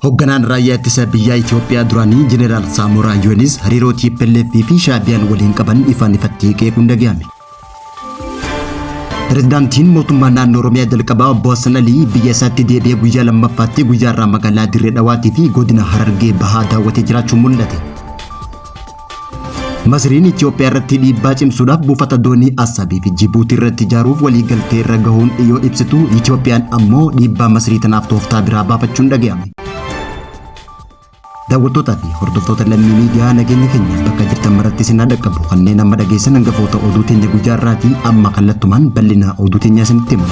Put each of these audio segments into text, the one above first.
Hoogganaan raayyaa ittisa biyyaa Itoophiyaa duraanii Jeneraal Saamoraa Yuunis hariiroo TPLF fi Shaabiyaan waliin qaban ifaan ifatti qeequun dhaga'ame. Pirezidaantiin mootummaa naannoo Oromiyaa jalqabaa obbo Hassan Alii biyya isaatti deebi'ee guyyaa lammaffaatti guyyaa irraa magaalaa Dirree Dhawaatii fi godina Harargee bahaa daawwatee jiraachuun mul'ate. Masriin Itoophiyaa irratti dhiibbaa cimsuudhaaf buufata doonii Assabii fi Jibuutii irratti ijaaruuf waliigaltee irra gahuun yoo ibsitu Itoophiyaan ammoo dhiibbaa Masrii tanaaf tooftaa biraa baafachuun dhaga'ame. Daawwattootaa fi hordoftoota lammii miidiyaa nageenyi keenya bakka jirtan maratti isin haa dhaqqabu kanneen amma dhageessan hangafoota oduu teenya guyyaa irraatii amma kallattumaan bal'ina oduu teenyaa isinitti hima.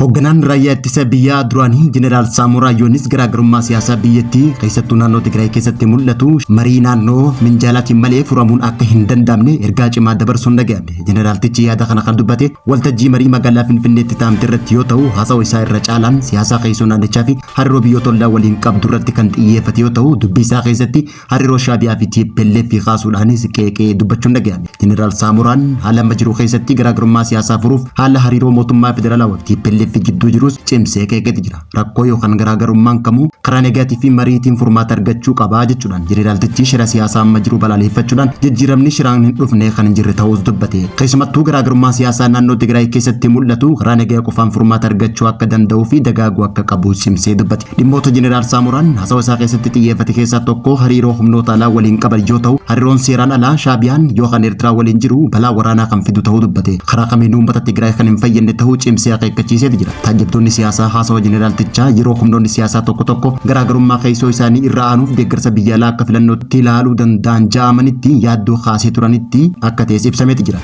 Hoogganaan raayyaa ittisa biyyaa duraanii Jeneraal Saamoraa Yoonis garaagarummaa siyaasaa biyyattii keessattuu naannoo Tigraay keessatti mul'atu marii naannoo minjaalaatiin malee furamuun akka hin danda'amne ergaa cimaa dabarsuun dhaga'ame. Jeneraaltichi yaada kana kan dubbate Waltajjii marii magaalaa Finfinneetti taa'amte irratti yoo ta'u, haasawa isaa irra caalaan siyaasaa keessoo naannichaa fi hariiroo biyyoota ollaa waliin qabdu irratti kan xiyyeeffate yoo ta'u, dubbii isaa keessatti hariiroo Shaabiyaa fi TPLF kaasuudhaanis qeeqee dubbachuun dhaga'ame. Jeneraal Saamoraan haala amma jiru keessatti garaagarummaa siyaasaa furuuf haala hariiroo mootummaa federaalaa fi TPLF gidduu jirus cimsee qeeqeeti jira. rakkoo yookaan garaagarummaan kamuu karaa negaatii fi mariitiin furmaata argachuu qabaa jechuudhaan jeneraaltichi shira siyaasaa amma jiru balaaleffachuudhaan jijjiiramni shiraan hin dhufne kan hin jirre ta'uus dubbate. Keessumattuu garaagarummaa siyaasaa naannoo Tigraay keessatti mul'atu karaa nagaa qofaan furmaata argachuu akka danda'uu fi dagaaguu akka qabu cimsee dubbate. Dhimmoota jeneraal Saamoraan hasawa isaa keessatti xiyyeeffate keessaa tokko hariiroo humnoota alaa waliin qaban yoo ta'u hariiroon seeraan alaa Shaabiyaan yookaan Eertiraa waliin jiru balaa waraanaa kan fidu ta'uu dubbate. Karaa kamiinuu uummata Tigraay kan hin fayyadne ta'uu cimsee akeekkachiisee jira. Taajjabtoonni siyaasaa haasawa jeneraaltichaa yeroo humnoonni siyaasaa tokko tokko garaagarummaa keessoo isaanii irra aanuuf deeggarsa biyya alaa akka filannootti ilaaluu danda'an ja'amanitti yaaddoo kaasee turanitti akka ta'es ibsameeti jira.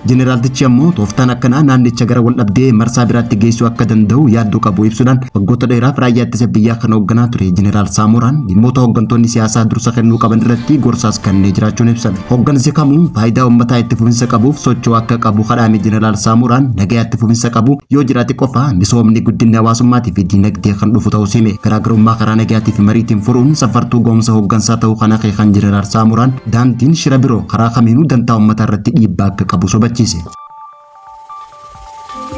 Jeneraaltichi ammoo tooftaan akkanaa naannicha gara waldhabdee marsaa biraatti geessuu akka danda'u yaaddoo qabu ibsuudhaan waggoota dheeraaf raayyaa ittisa biyyaa kan hoogganaa ture jeneraal Saamooraan dhimmoota hooggantoonni siyaasaa dursa kennuu qaban irratti gorsaas kennee jiraachuun ibsame. Hoggansi kamuu faayidaa uummataa itti fufinsa qabuuf socho'uu akka qabu kadhaame Jeneraal Saamuuraan nagaa itti fufinsa qabu yoo jiraate qofa misoomni guddinni hawaasummaatii fi diinagdee kan dhufu ta'uu hime. Garaagarummaa karaa nagaatii fi mariitiin furuun saffartuu ga'umsa hoggansaa ta'uu kan akeekan Jeneraal Saamuuraan daandiin shira biroo karaa kamiinuu dantaa uummataa irratti dhiibbaa akka qabu hubachiise.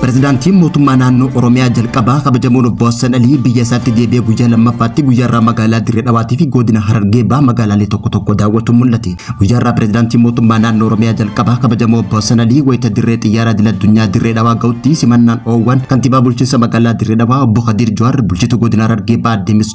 Pirezidaantiin mootummaa naannoo Oromiyaa jalqabaa kabajamoon obbo Hassan Alii biyya isaatti deebi'ee guyyaa lammaffaatti guyyaarraa magaalaa Dirree Dhawaatii fi godina Harargee baa magaalaalee tokko tokko daawwatu mul'ate. Guyyaarraa pirezidaantiin mootummaa naannoo Oromiyaa jalqabaa kabajamoo obbo Hassan Alii wayita dirree xiyyaaraa idil addunyaa Dirree Dhawaa ga'utti simannaan oowwan kantiibaa bulchiinsa magaalaa Dirree Dhawaa obbo Kadiir Jawaar bulchituu godina Harargee baa Demis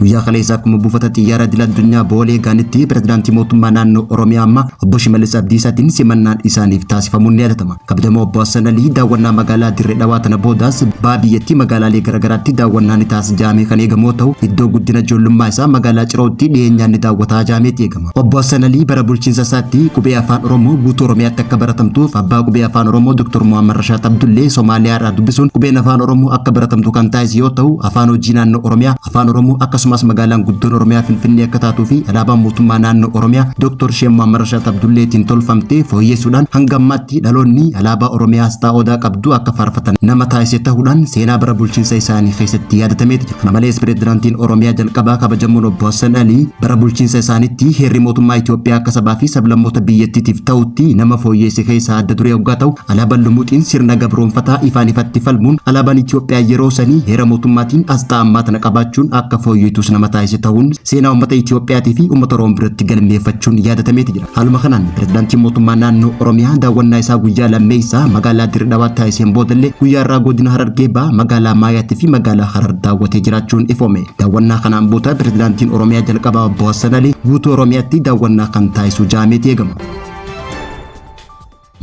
Guyyaa kaleessaa akkuma buufata xiyyaara idil addunyaa Boolee Gaanitti pirezidaantii mootummaa naannoo Oromiyaa ammaa obbo Shimallis Abdiisaatiin simannaan isaaniif taasifamuun ni yaadatama. Kabajamoo obbo Hassan Alii daawwannaa magaalaa Dirree Dhawaa tana boodaas baha biyyattii magaalaalee garaagaraatti daawwannaa ni taasisa jaamee kan eegamoo ta'u iddoo guddina ijoollummaa isaa magaalaa Cirootti dhiyeenyaan ni daawwataa jaameeti eegama. Obbo Hassan Alii bara bulchiinsa isaatti qubee afaan Oromoo guutuu Oromiyaatti akka baratamtuuf abbaa qubee afaan Oromoo Dr. Muhammad Rashaad Abdullee Somaaliyaa irraa dubbisuun qubeen afaan Oromoo akka baratamtu kan taasise yoo ta'u afaan hojii naannoo Oromiyaa afaan Oromoo akkasumas magaalaan guddoon Oromiyaa Finfinnee akka taatuu fi alaabaan mootummaa naannoo Oromiyaa Dr. Sheem Muhammad Rashaad Abdulleetiin tolfamtee fooyyeessuudhaan hanga ammaatti dhaloonni alaabaa Oromiyaa asxaa odaa qabdu akka faarfatan nama taasise ta'uudhaan seenaa bara bulchiinsa isaanii keessatti yaadatameeti jira. Kana malees pireezidaantiin Oromiyaa jalqabaa kabajamoon obbo Hassan Alii bara bulchiinsa isaanitti heerri mootummaa Itoophiyaa akka sabaa fi sablammoota biyyattiitiif ta'utti nama fooyyeesse keessaa adda duree oggaa ta'u alaabaan lumuuxiin sirna gabroonfataa ifaan ifatti falmuun alaabaan Itoophiyaa yeroo sanii heera mootummaatiin asxaa ammaa tana qabaachuun akka fooyyeetus nama taasise ta'uun seenaa uummata Itoophiyaatii fi uummata Oromoo biratti galmeeffachuun yaadatameeti jira. Haaluma kanaan pirezidaantiin mootummaa naannoo Oromiyaa daawwannaa isaa guyyaa lammeessaa magaalaa Dirree Dhawaatti taasiseen boodallee guyyaa irraa godina Harargee Bahaa magaalaa Maayaatti fi magaalaa Harar daawwatee jiraachuun ifoome. Daawwannaa kanaan booda pirezidaantiin Oromiyaa jalqabaa obbo Hassan Alii guutuu Oromiyaatti daawwannaa kan taasisu jaameeti eegama.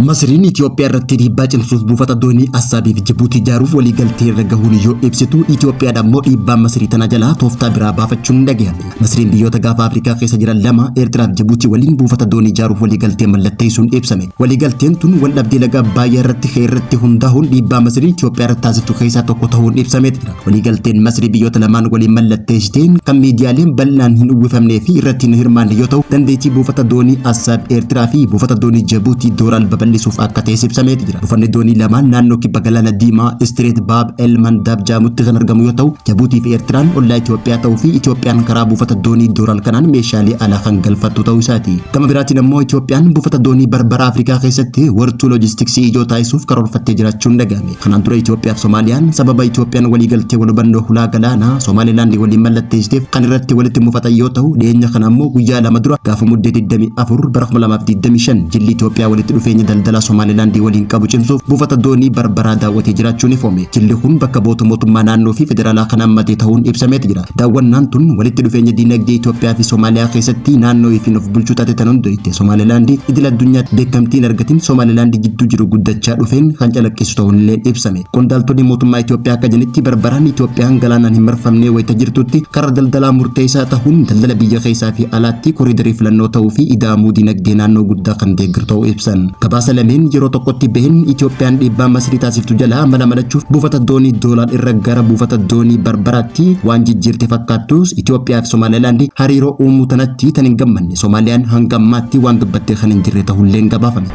Masiriin Itoophiyaa irratti dhiibbaa cimsuuf buufata doonii Assaabii fi Jibuutii ijaaruuf walii galtee irra gahuun yoo ibsitu, Itoophiyaadha immoo dhiibbaa Masirii tana jalaa tooftaa biraa baafachuun hin dhagahame. Masiriin biyyoota gaafa Afrikaa keessa jiran lama Eertiraa fi Jibuutii waliin buufata doonii ijaaruuf walii galtee mallatteessuun ibsame. Walii galteen tun wal dhabdee laga Abbaayyaa irratti ka'e irratti hundaa'uun dhiibbaa Masiriin Itoophiyaa irratti taasiftu keessaa tokko ta'uun ibsameeti jira. Waliigalteen Masrii biyyoota lamaan waliin mallatteessite kan miidiyaaleen bal'inaan hin uwwifamnee fi irratti hin hirmaanne yoo ta'u, dandeettii buufata doonii Assaab Eertiraa fi buufata doonii Jabuutii Dooraal babal'isuuf akka ta'es ibsameeti jira. Buufanni doonii lamaan naannoo kibba galaana diimaa Istireet Baab El Mandaab jedhamutti kan argamu yoo ta'u, Jabuutii fi Eertiraan ollaa Itoophiyaa ta'uu fi Itoophiyaan karaa buufata doonii Dooraal kanaan meeshaalee alaa kan galfattu ta'uu isaati. Gama biraatiin ammoo Itoophiyaan buufata doonii Barbara Afrikaa keessatti wartuu loojistiksii ijoo taasisuuf karoorfattee jiraachuun dhaga'ame. Kanaan dura Itoophiyaaf Somaaliyaan sababa Itoophiyaan waliigaltee wal hubannoo hulaa galaanaa Somaalilaandii waliin mallatteessiteef kan irratti walitti mufatan yoo ta'u dhiyeenya kana ammoo guyyaa lama dura gaafa muddee 24 bara 2025 jilli Itoophiyaa walitti dhufeenya daldalaa Somaalilaandii waliin qabu cimsuuf buufata doonii barbaraa daawwatee jiraachuun ifoome. Jilli kun bakka boota mootummaa naannoo fi federaalaa kan hammatee ta'uun ibsameeti jira. Daawwannaan tun walitti dhufeenya diinagdee Itoophiyaa fi Somaaliyaa keessatti naannoo ifiin of bulchuu taate tan hundoofte Somaalilaand idil addunyaatti beekamtii hin argatin Somaalilaand jidduu jiru guddachaa dhufeen kan calaqqisu ta'uun illee ibsame. Qondaaltonni mootummaa Itoophiyaa akka jedhanitti barbaraan Itoophiyaan galaanaan hin marfamnee wayita jirtutti karra daldalaa murteessaa tahuun daldala biyya keessaa fi alaatti koriidarii filannoo ta'uu fi ida'amuu diinagdee naannoo guddaa kan deeggaru ta'uu ibsan. Gabaasa lameen yeroo tokkotti baheen Itoophiyaan dhiibbaa Masrii taasiftu jalaa mala malachuuf buufata doonii Doolaal irra gara buufata doonii Barbaraatti Tti waan jijjiirte fakkaattus Itoophiyaa fi Somaalilaand hariiroo uumuu tanatti tan hin gammanne Somaaliyaan hanga ammaatti waan dubbattee kan hin jirre tahulleen gabaafame.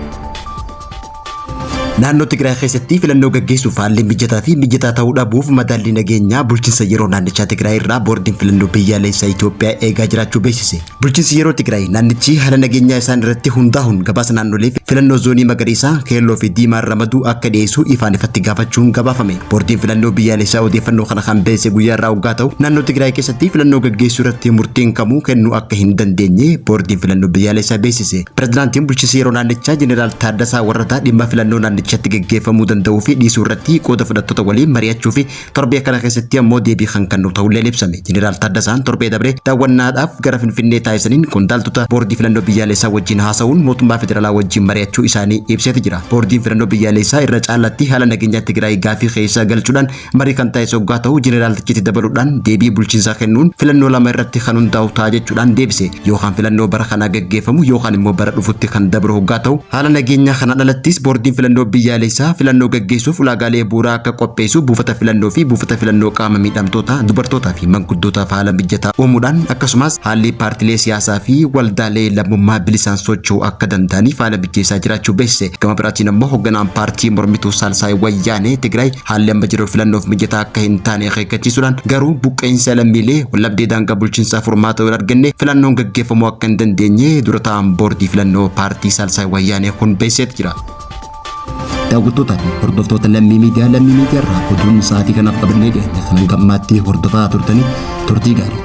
Naannoo Tigraay keessatti filannoo gaggeessuuf haalli mijataa fi mijataa ta'uu dhabuuf madaallii nageenyaa bulchiinsa yeroo naannichaa Tigraay irraa boordiin filannoo biyyaalessaa Itoophiyaa eegaa jiraachuu beeksise. Bulchiinsi yeroo Tigraay naannichi haala nageenyaa isaan irratti hundaa'uun gabaasa naannolee fi filannoo zoonii magariisaa, keelloo fi diimaan ramaduu akka dhiyeessu ifaan ifatti gaafachuun gabaafame. Boordiin filannoo biyyaalessaa odeeffannoo kana kan beesse guyyaa irraa hoggaa ta'u, naannoo Tigraay keessatti filannoo gaggeessuu irratti murtiin kamuu kennuu akka hin dandeenye boordiin filannoo biyyaalessaa beeksise. Pirezidaantiin bulchiinsa yeroo naannichaa Jeneraal Taaddasaa Warradaa dhimma filannoo naannichatti gaggeeffamuu danda'uu fi dhiisuu irratti qooda fudhattoota waliin mari'achuu fi Torbee kana keessatti ammoo deebii kan kennu ta'ulleen ibsame. Jeneraal Taaddasaan torbee dabre daawwannaadhaaf gara Finfinnee taasisaniin qondaaltota boordii filannoo biyyaalessaa wajjin haasa'uun mootummaa federaalaa wajjin mari'achuu isaanii ibseeti jira. Boordiin filannoo biyyaalessaa irra caalaatti haala nageenyaa Tigraay gaafii keessa galchuudhaan marii kan taasise oggaa ta'u jeneraaltichi itti dabaluudhaan deebii bulchiinsaa kennuun filannoo lama irratti kan hundaa'u ta'a jechuudhaan deebise. yookaan filannoo bara kanaa gaggeeffamu yookaan immoo bara dhufutti kan dabru hoggaa ta'u haala nageenyaa kana dhalattis boordiin filannoo biyyaaleessaa filannoo gaggeessuuf ulaagaalee bu'uuraa akka qopheessu buufata filannoo fi buufata filannoo qaama miidhamtoota dubartootaa fi manguddootaaf haala mijataa uumuudhaan akkasumas haalli paartilee siyaasaa fi waldaalee lammummaa bilisaan socho'uu akka danda'aniif haala mijeessaa jiraachuu beeksise gama biraatiin ammoo hogganaan paartii mormituu saalsaay wayyaanee Tigraay Haalli amma jiru filannoof mijataa akka hin taane akeekkachiisuudhaan garuu buqqa'insa lammiilee wallabdee daangaa bulchiinsaa furmaata hin arganne filannoon gaggeeffamuu akka hin dandeenye dura taa'aan boordii filannoo paartii Saalsaay Wayyaanee kun beeksiseet jira. Daawwattootaa fi hordoftoota lammii miidiyaa lammii miidiyaa irraa oduun sa'aatii kanaaf qabannee dhiyaate kan hanga ammaatti hordofaa turtanii turtii gaarii.